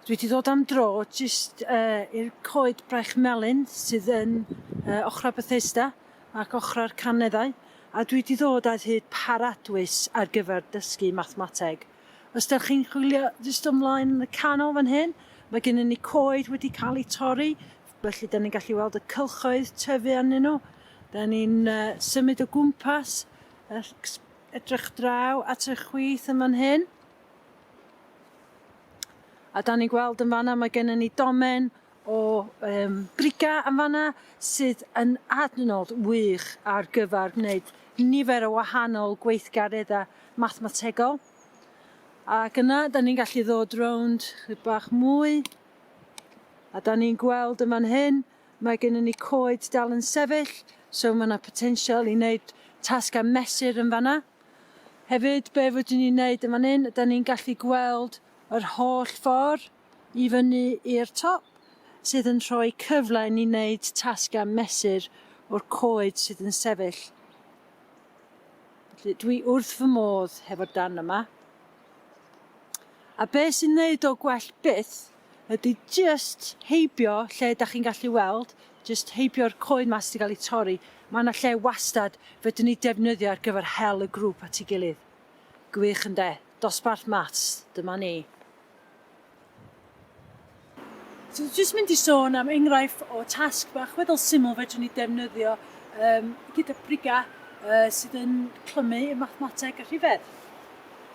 Dwi wedi dod am dro jyst uh, i'r coed braich melyn sydd yn uh, ochrau Bethesda ac ochrau'r caneddau, a dwi wedi dod ar hyd paradwys ar gyfer dysgu mathemateg. Os da chi'n chwilio jyst ymlaen yn y canol fan hyn, mae gennym ni coed wedi cael eu torri, Felly, dan ni'n gallu weld y cylchoedd tyfu arnyn nhw. Dan ni'n uh, symud o gwmpas, edrych draw at y chwith yn fan hyn. A da ni'n gweld yn fanna mae gennym ni domen o um, briga yn fanna sydd yn adnod wych ar gyfer gwneud nifer o wahanol gweithgareddau mathemategol. Ac yna, da ni'n gallu ddod rownd bach mwy A da ni'n gweld yn fan hyn, mae gennym ni coed dal yn sefyll, so mae yna potensial i wneud tasg a mesur yn fanna. Hefyd, be fydden ni'n wneud yn fan hyn, da ni'n gallu gweld yr holl ffordd i fyny i'r top, sydd yn rhoi cyfle i ni wneud tasg a mesur o'r coed sydd yn sefyll. Felly, dwi wrth fy modd hefo'r dan yma. A be' sy'n neud o gwell byth ydi jyst heibio lle 'dach chi'n gallu weld, jyst heibio'r coed 'ma sy' 'di ga'l 'u torri, ma' 'na lle wastad fedrwn ni defnyddio ar gyfer hel y grŵp at 'i gilydd. Gwych ynde? Dosbarth Maths, dyma ni. So dwi jyst mynd i sôn am enghraifft o tasg bach weddol syml fedrwn ni defnyddio um, gyda briga uh, sydd yn clymu y mathemateg a rhifedd.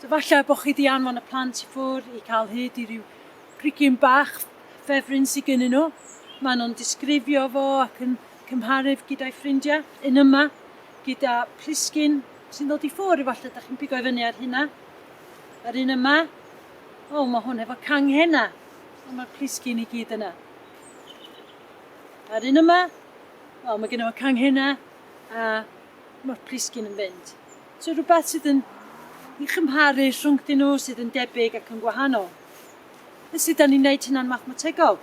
So falle bod chi wedi anfon y plant i ffwrdd i cael hyd i ryw brigyn bach ffefryn sydd gennyn nhw. Maen nhw'n disgrifio fo ac yn cymharu'r gyda'i ffrindiau. Yn yma, gyda plisgyn sy'n dod i ffwrdd, efallai ydych chi'n pigo i fyny ar hynna. Yr un yma, O, mae hwn efo canghena. O, mae'r plisgyn i gyd yna. A'r un yma, wel, mae gen fo canghena a mae'r plisgyn yn fynd. So rhywbeth sydd yn i chymharu rhwng dyn nhw sydd yn debyg ac yn gwahanol. Beth sydd da ni'n gwneud hynna'n mathemategol?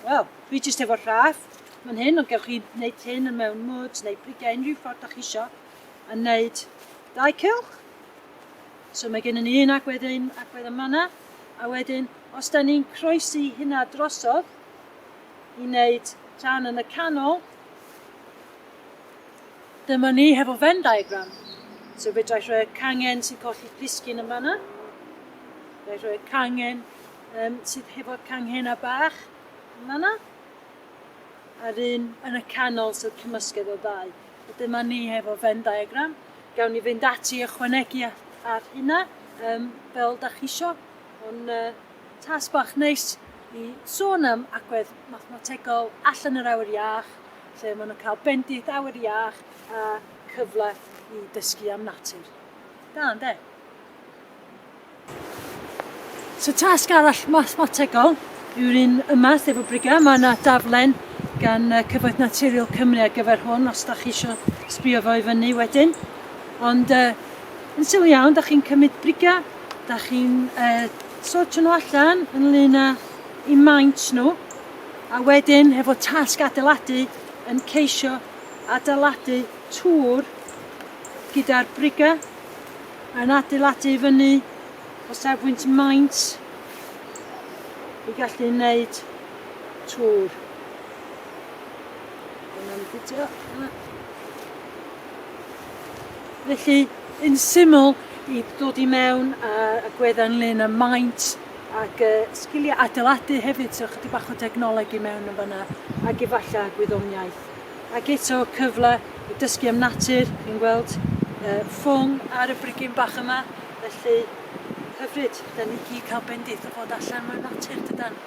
Wel, dwi jyst efo rhaff mae'n hyn, ond gewch chi wneud hyn yn mewn mwd neu brigau unrhyw ffordd da chi isio a wneud dau cylch. So mae gennym ni un agwedd un agwedd yn manna, a wedyn os da ni'n croesi hynna drosodd i wneud rhan yn y canol, dyma ni hefo Venn diagram. So fedra i rhoi cangen sy'n colli plisgyn yn fanna. Fedra i rhoi cangen um, sydd hefo cangen a bach yn fanna. A'r un yn y canol sydd cymysgedd o ddau. Dyma ni hefo Venn diagram. Gawn ni fynd ati ychwanegu ar hynna, um, fel da chi isio. Ond uh, tas bach neis i sôn am agwedd mathemategol allan yr awyr iach, lle maen nhw'n cael bendith awyr iach a cyfle i dysgu am natur. Da, ynddo? So tasg arall mathemategol yw'r un yma, sef o brigau. Mae yna daflen gan Cyfoeth Naturiol Cymru ar gyfer hwn, os da chi eisiau sbio fo i fyny wedyn. Ond uh, yn sylw iawn, da chi'n cymryd brigau, da chi'n uh, sortio nhw allan yn lun â i maint nhw, a wedyn hefo tasg adeiladu yn ceisio adeiladu tŵr gyda'r brigau Mae'n adeiladu i fyny o safbwynt maint i gallu wneud tŵr. Mae'n ffitio. Felly, yn syml, i ddod i mewn a, a gwedda ynglyn â maint ac uh, sgiliau adeiladu hefyd, so chydig bach o dechnoleg i mewn yn fanna, ac efallai gwyddoniaeth. Ac eto cyfle i dysgu am natur, fi'n gweld yy ffwng ar y brigyn bach yma, felly hyfryd. Da ni gyd cael bendith o fod allan mewn natur dydan?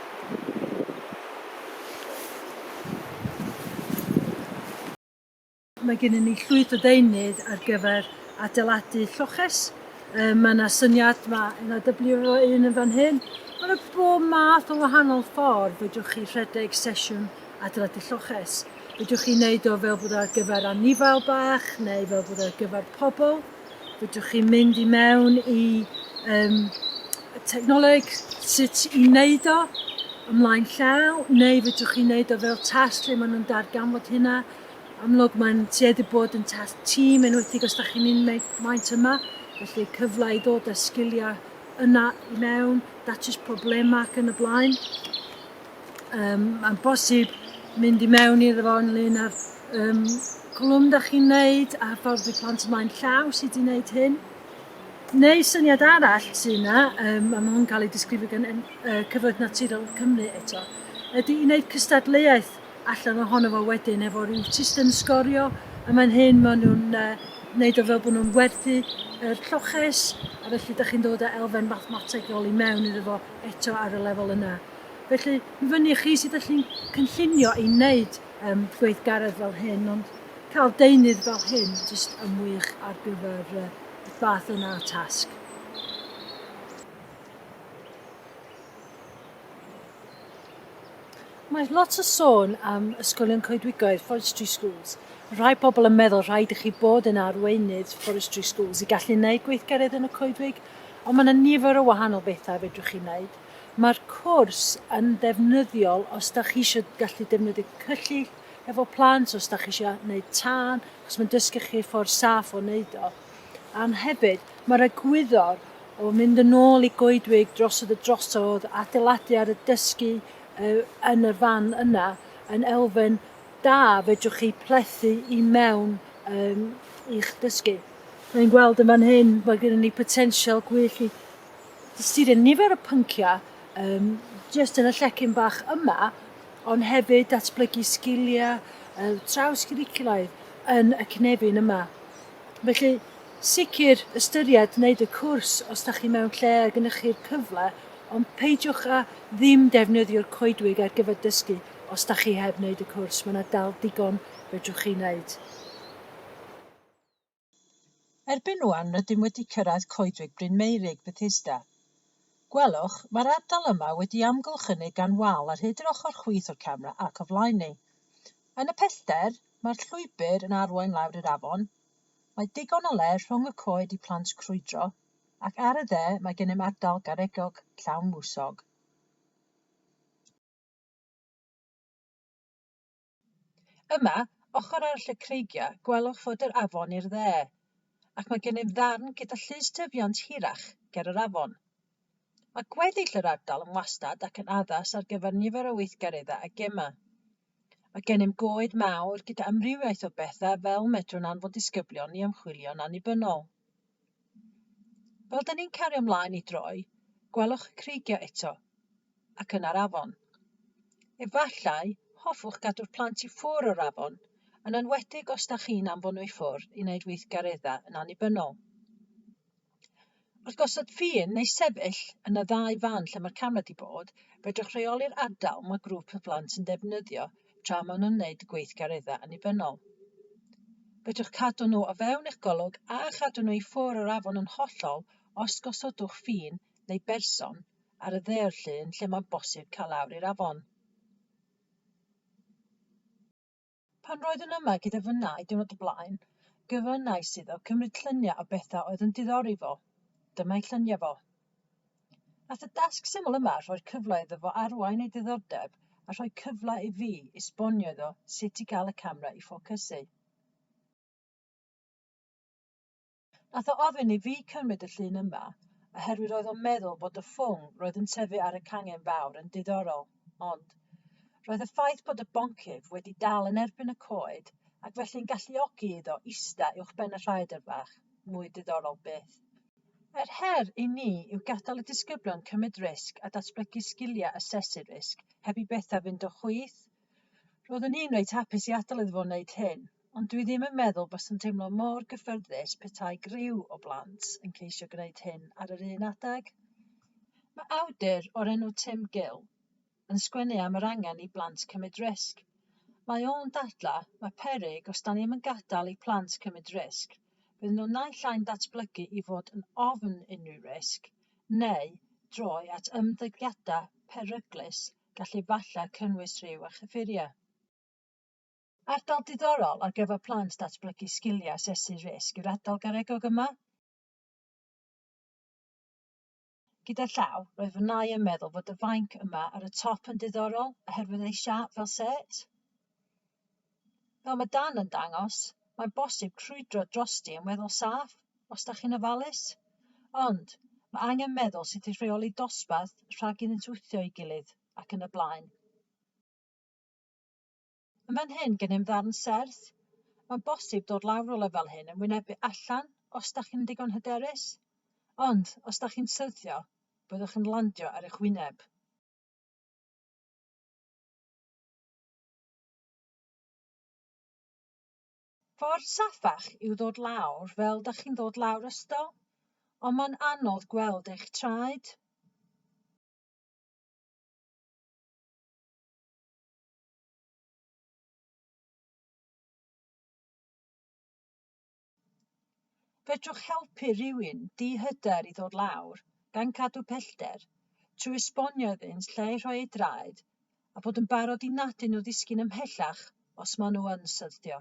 Mae gennym ni llwyth o ddeunydd ar gyfer adeiladu lloches. Yy ma' 'na syniad ma' na dyblu efo un yn fan hyn. Ma' 'na bob math o wahanol ffordd fedrwch chi rhedeg sesiwn adeiladu lloches. Fedrwch chi wneud o fel bod ar gyfer anifail bach neu fel bod ar gyfer pobl. Fedrwch chi mynd i mewn i um, technoleg sut i wneud o ymlaen llaw neu fedrwch chi wneud o fel tasg lle maen nhw'n darganfod hynna. Amlwg mae'n tueddu bod yn tasg tîm enwedig os da chi'n un maint yma, felly cyfle i ddod â sgiliau yna i mewn, datrys problemau ac yn y blaen. Yym, mae'n bosib mynd i mewn iddo fo ynglyn â'r yym, cwlwm da chi'n neud a hyfforddi plant ymlaen llaw sydd wedi wneud hyn. Neu syniad arall sy'n yna, um, mae hwn cael ei disgrifio gan uh, Cyfoeth Naturiol Cymru eto, ydy i wneud cystadleuaeth allan ohono fo wedyn efo rhyw system sgorio a mae'n hyn maen nhw'n uh, wneud o fel bod nhw'n werthu yr lloches a felly da chi'n dod â elfen mathemategol i mewn iddo fo eto ar y lefel yna. Felly, mi fyny i chi sut ydych chi'n cynllunio i wneud um, gweithgaredd fel hyn, ond cael deunydd fel hyn jyst yn wych ar gyfer uh, y fath yna o tasg. Mae lot o sôn am ysgolion coedwigoedd, forestry schools. Rhai pobl yn meddwl rhaid i chi bod yn arweinydd forestry schools i gallu gwneud gweithgaredd yn y coedwig, ond mae yna nifer o wahanol bethau fedrwch chi wneud. Mae'r cwrs yn ddefnyddiol os da chi eisiau gallu defnyddio cyllyll efo plant, os da chi eisiau gwneud tân, achos mae'n dysgu chi ffordd saff o wneud o. A'n hefyd, mae'r egwyddor o mynd yn ôl i goedwig drosodd y drosodd, adeiladu ar y dysgu yn yr fan yna, yn elfen da fedrwch chi plethu i mewn um, i'ch dysgu. Mae'n gweld yn fan hyn, mae gennym ni potensial gwyllt i sydd yn nifer o pynciau yym jyst yn y llecyn bach yma, ond hefyd datblygu sgiliau yy trawsgwricwlaidd yn y cynefin yma. Felly, sicr ystyried wneud y cwrs os da chi mewn lle a gennych chi'r cyfle, ond peidiwch â ddim defnyddio'r coedwig ar gyfer dysgu os da chi heb wneud y cwrs, mae yna dal digon fedrwch chi wneud. Erbyn ŵan rydym wedi cyrraedd Coedwig Bryn Meurig, Bethesda. Gwelwch, mae'r ardal yma wedi amgylchynu gan wal ar hyd yr ochr chwith o'r camera ac o flaen ni. Yn y pellter, mae'r llwybr yn arwain lawr i'r afon. Mae digon o le rhwng y coed i plant crwydro, ac ar y dde mae gennym ardal garegog llawn mwsog. Yma, ochr arall y creigiau, gwelwch fod yr afon i'r dde, ac mae gennym ddarn gyda llys tyfiant hirach ger yr afon. Mae gweddill yr ardal yn wastad ac yn addas ar gyfer nifer o weithgareddau a gemau. Mae gennym goed mawr gyda amrywiaeth o bethau fel medrwn anfon disgyblion i ymchwilio'n annibynnol. Fel 'dyn ni'n cario mlaen i droi, gwelwch y creigiau eto, ac yna'r afon. Efallai, hoffwch gadw'r plant i ffwr o'r afon, yn enwedig os da chi'n anfon nhw i ffwr i wneud weithgareddau yn annibynnol. Wrth gosod ffin neu sefyll yn y ddau fan lle mae'r camera di bod, fedrwch reoli'r ardal mae grŵp y plant yn defnyddio tra maen nhw'n wneud gweithgareddau annibynnol. Fedrwch cadw nhw o fewn eich golwg a chadw nhw i ffwrdd o'r afon yn hollol os gosodwch ffin neu berson ar y ddeor llun lle mae'n bosib cael lawr i'r afon. Pan roeddwn yma gyda fy nai diwrnod y blaen, gofynnais iddo cymryd lluniau o bethau oedd yn diddori fo. Dyma'i lluniau fo. Wnaeth y dasg syml yma rhoi'r cyfle iddo fo arwain ei ddiddordeb a rhoi cyfle i fi esbonio iddo sut i gael y camera i ffocysu. Nath o ofyn i fi cymryd y llun yma oherwydd roedd o'n meddwl bod y ffwng roedd yn tyfu ar y cangen fawr yn diddorol, ond roedd y ffaith bod y boncyff wedi dal yn erbyn y coed ac felly'n galluogi iddo ista uwchben y rhaeadr fach, mwy diddorol byth. Yr her i ni yw gadael y disgyblion cymryd risg a datblygu sgiliau asesu risg heb i bethau fynd o chwith. Roeddwn i'n reit hapus i adael iddo fo wneud hyn, ond dwi ddim yn meddwl byswn teimlo mor gyffyrddus petai griw o blant yn ceisio gwneud hyn ar yr un adeg. Mae awdur o'r enw Tim Gill, yn sgwennu am yr angen i blant cymryd risg. Mae o'n dadlau, mae peryg os da ni ddim yn gadael i plant cymryd risg, bydden nhw naill ai'n datblygu i fod yn ofn unrhyw risg, neu droi at ymddygiadau peryglus gall efallai cynnwys rhyw a chyffuriau. Ardal diddorol ar gyfer plant datblygu sgiliau asesu risg yw'r ardal garegog yma. Gyda llaw, roedd fy nau yn meddwl fod y fainc yma ar y top yn diddorol oherwydd ei siap fel set. Fel mae Dan yn dangos, mae'n bosib crwydro drosti yn weddol saff, os da chi'n ofalus. Ond, mae angen meddwl sut i rheoli dosbarth rhag iddynt wthio ei gilydd, ac yn y blaen. Yn fan hyn gennym ddarn serth. Mae'n bosib dod lawr o lefel hyn yn wynebu allan os da chi'n digon hyderus, ond os da chi'n syrthio, byddwch yn landio ar eich wyneb. Ffordd saffach yw ddod lawr fel da chi'n ddod lawr ystol, ond mae'n anodd gweld eich traed. Fedrwch helpu rhywun di-hyder i ddod lawr, gan gadw pellter, trwy esbonio iddynt lle i rhoi eu draed, a bod yn barod i nadu nhw ddisgyn ymhellach os maen nhw yn syrthio.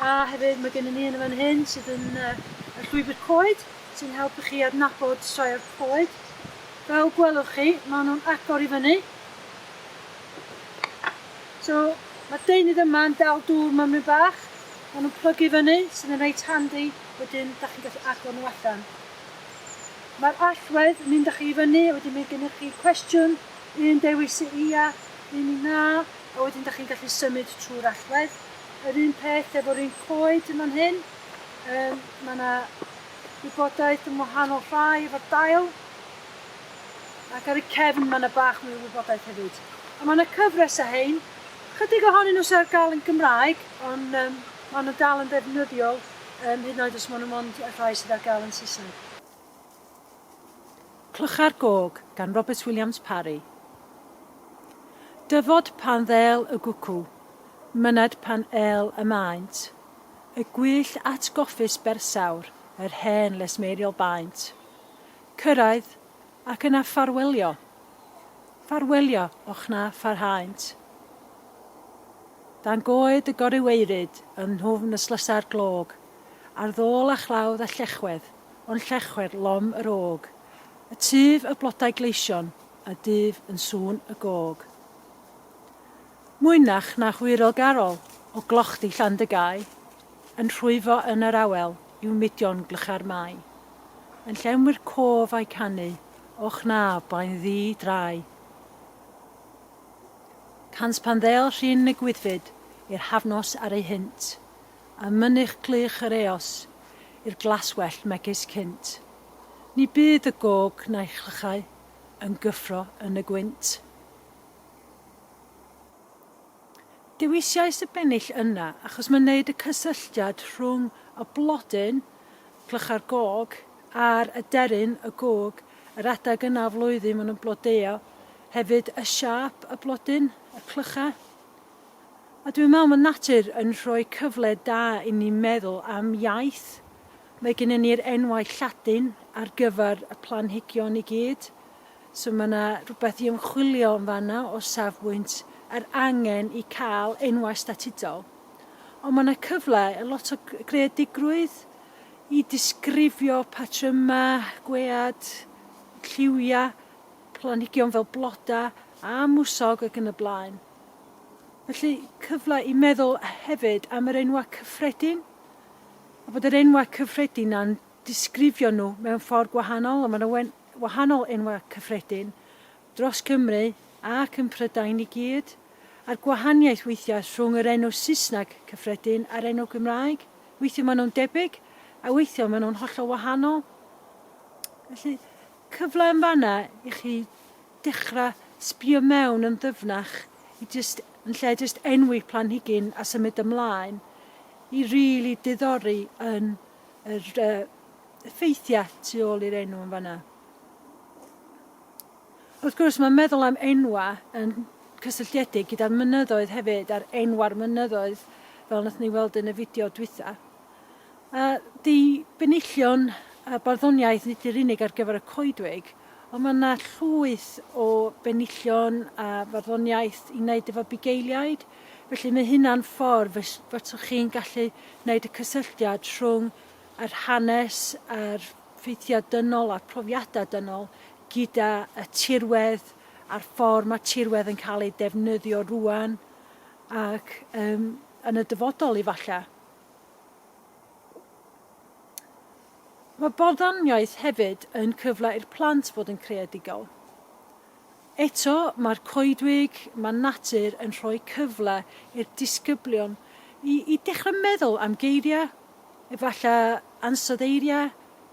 A hefyd mae gennym ni un yn fan hyn sydd yn y llwybr coed sy'n helpu chi adnabod sioe'r coed. Fel gwelwch chi, mae nhw'n agor i fyny. So, mae deunydd yma yn dal dŵr mymryn bach. Mae nhw'n plygu fyny, sydd yn reit handi, wedyn da chi'n gallu agor nhw allan. Mae'r allwedd yn mynd â chi i fyny, wedyn mae gennych chi cwestiwn, un dewis y ia, un i na, a wedyn da chi'n gallu symud trwy'r allwedd. Yr un peth efo'r un coed yn fan hyn. Um, mae yna wybodaeth yn wahanol rhai efo'r dail. Ac ar y cefn mae yna bach mwy o wybodaeth hefyd. A mae yna cyfres o hein. Chydig ohonyn nhw sy'n ar gael yn Gymraeg, ond um, maen nhw'n dal yn ddefnyddiol, um, hyd yn oed os maen nhw'n mond y rhai sydd ar gael yn Saesneg. Clychau'r Gog, gan Robert Williams Parry. Dyfod pan ddêl y gwcw, myned pan êl y maent, y gwyllt atgoffus bersawr yr hen lesmeiriol baent. Cyrraedd, ac yna ffarwelio. Ffarwelio, och na pharhaent. Dan goed y goryweiryd, yn nhwfn y slysau'r glog, ar ddôl a chlawdd a llechwedd, Ond llechwedd lom yr ôg. Y tyf y blodau gleision, a dyf yn sŵn y gog. Mwynach na hwyrol garol, o glochdy Llandygau, yn rhwyfo yn yr awel i'w mudion glycha'r Mae. Yn llenwi'r cof â'i canu, o chnaf blaen ddu drai. Cant pan ddeall rhin y gwyddfyd, i'r hafnos ar ei hynt. a mynych glich yr eos i'r glaswellt megis cynt. Ni bydd y gog na'i chlychau yn gyffro yn y gwynt. Dewisais y bennill yna achos mae'n neud y cysylltiad rhwng y blodyn, clychau'r gog, a'r aderyn, y gog, yr adeg yna o flwyddyn maen nhw'n blodeuo, hefyd y siâp y blodyn, y clychau. A dwi'n meddwl mae natur yn rhoi cyfle da i ni meddwl am iaith. Mae gennyn ni'r enwau Lladin ar gyfer y planhigion i gyd. So mae yna rhywbeth i ymchwilio yn fan'na o safbwynt yr angen i cael enwau statudol. Ond mae yna cyfle i lot o greadigrwydd i disgrifio patrymau, gwead, lliwiau, planhigion fel blodau a mwsog ac yn y blaen. Felly, cyfle i meddwl hefyd am yr enwau cyffredin, a bod yr enwau cyffredin 'na'n disgrifio nhw mewn ffordd gwahanol, a mae 'na wen- wahanol enwau cyffredin dros Cymru ac yn Prydain i gyd, a'r gwahaniaeth weithiau rhwng yr enw Saesneg cyffredin a'r enw Gymraeg, weithiau maen nhw'n debyg, a weithiau maen nhw'n hollol wahanol. Felly, cyfle yn fan'na i chi dechra sbio mewn yn ddyfnach i jyst, yn lle jyst enwi planhigyn a symud ymlaen, i rili diddori yn yr effeithiau tu ôl i'r enw yn fanna. Wrth gwrs, mae meddwl am enwa yn cysylltiedig gyda'r mynyddoedd hefyd, a'r enwa'r mynyddoedd, fel wnaethon ni weld yn y fideo dwytha. A di benillion a barddoniaeth nid yw'r unig ar gyfer y coedwig, ond mae yna llwyth o benillion a farddoniaeth i wneud efo bugeiliaid, felly mae hynna'n ffordd fys- fyswch chi'n gallu wneud y cysylltiad rhwng yr hanes a'r ffeithiau dynol a'r profiadau dynol gyda y tirwedd a'r ffordd mae tirwedd yn cael ei defnyddio rŵan ac yym yn y dyfodol efallai. Mae barddoniaeth hefyd yn cyfle i'r plant fod yn creadigol. Eto, mae'r coedwig, mae natur yn rhoi cyfle i'r disgyblion i i dechrau meddwl am geiriau, efallai ansoddeiriau,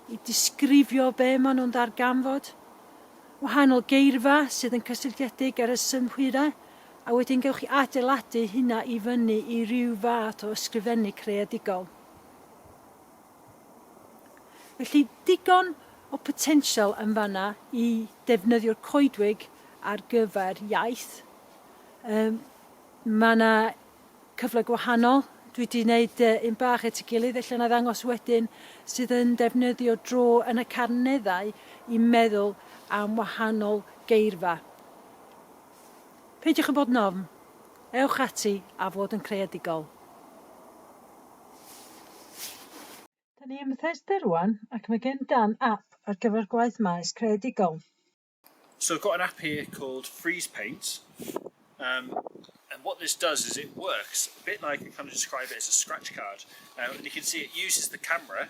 i disgrifio be maen nhw'n ddarganfod, wahanol geirfa sydd yn cysylltiedig ar y synhwyrau A wedyn gewch chi adeiladu hynna i fyny i ryw fath o ysgrifennu creadigol. Felly, digon o potensial yn fanna i defnyddio'r coedwig ar gyfer iaith. Um, mae yna cyfle gwahanol. Dwi wedi gwneud un bach at y gilydd, allan a ddangos wedyn, sydd yn defnyddio dro yn y carneddau i meddwl am wahanol geirfa. Peidiwch â bod yn ofn. Ewch ati a fod yn creadigol. Da ni ym Mhethesda rwan ac mae gen Dan ap ar gyfer gwaith maes creadigol. So I've got an app here called Freeze Paint um, and what this does is it works a bit like I kind of describe it as a scratch card um, and you can see it uses the camera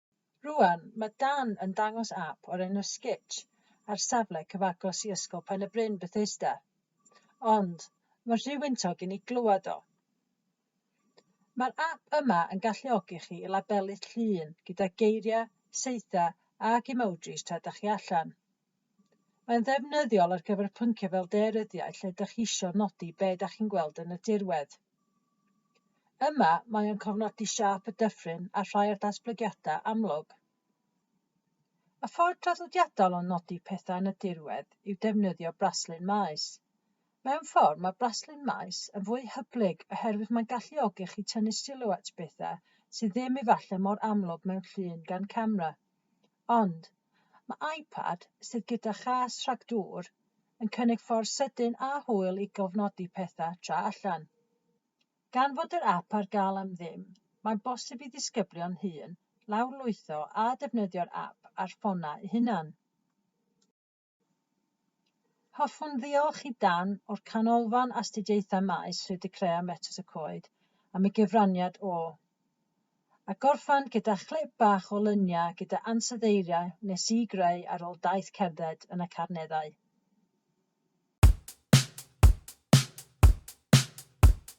Rŵan, mae Dan yn dangos ap o'r enw Sketch ar safle cyfagos i Ysgol Pen-y-bryn, Bethesda. Ond, mae'n rhy wyntog i ni glywed o. Mae'r ap yma yn galluogi chi i labelu llun gyda geiriau, saethau ac emojis tra dach chi allan. Mae'n ddefnyddiol ar gyfer pynciau fel daearyddiaeth lle ydych chi isio nodi be ydych chi'n gweld yn y dirwedd. Yma, mae o'n cofnodi siâp y dyffryn a rhai o'r datblygiadau amlwg. Y ffordd traddodiadol o nodi pethau yn y dirwedd yw defnyddio braslun maes. Mewn ffordd, mae braslun maes yn fwy hyblyg oherwydd mae'n galluogi chi tynnu sylw at bethau sydd ddim efallai mor amlwg mewn llun gan camera. Ond, mae iPad, sydd gyda chas rhag dŵr, yn cynnig ffordd sydyn a hwyl i gofnodi pethau tra allan. Gan fod yr ap ar gael am ddim, mae'n bosib i ddisgyblion hŷn lawrlwytho a defnyddio'r ap ar ffonau eu hunain. Hoffwn ddiolch i Dan o'r Canolfan Astudiaethau Maes Sir De Crea Metws y Coed am ei gyfraniad o, a gorffen gyda chlip bach o luniau gyda ansoddeiriau nes i greu ar ôl daith cerdded yn y Carneddau.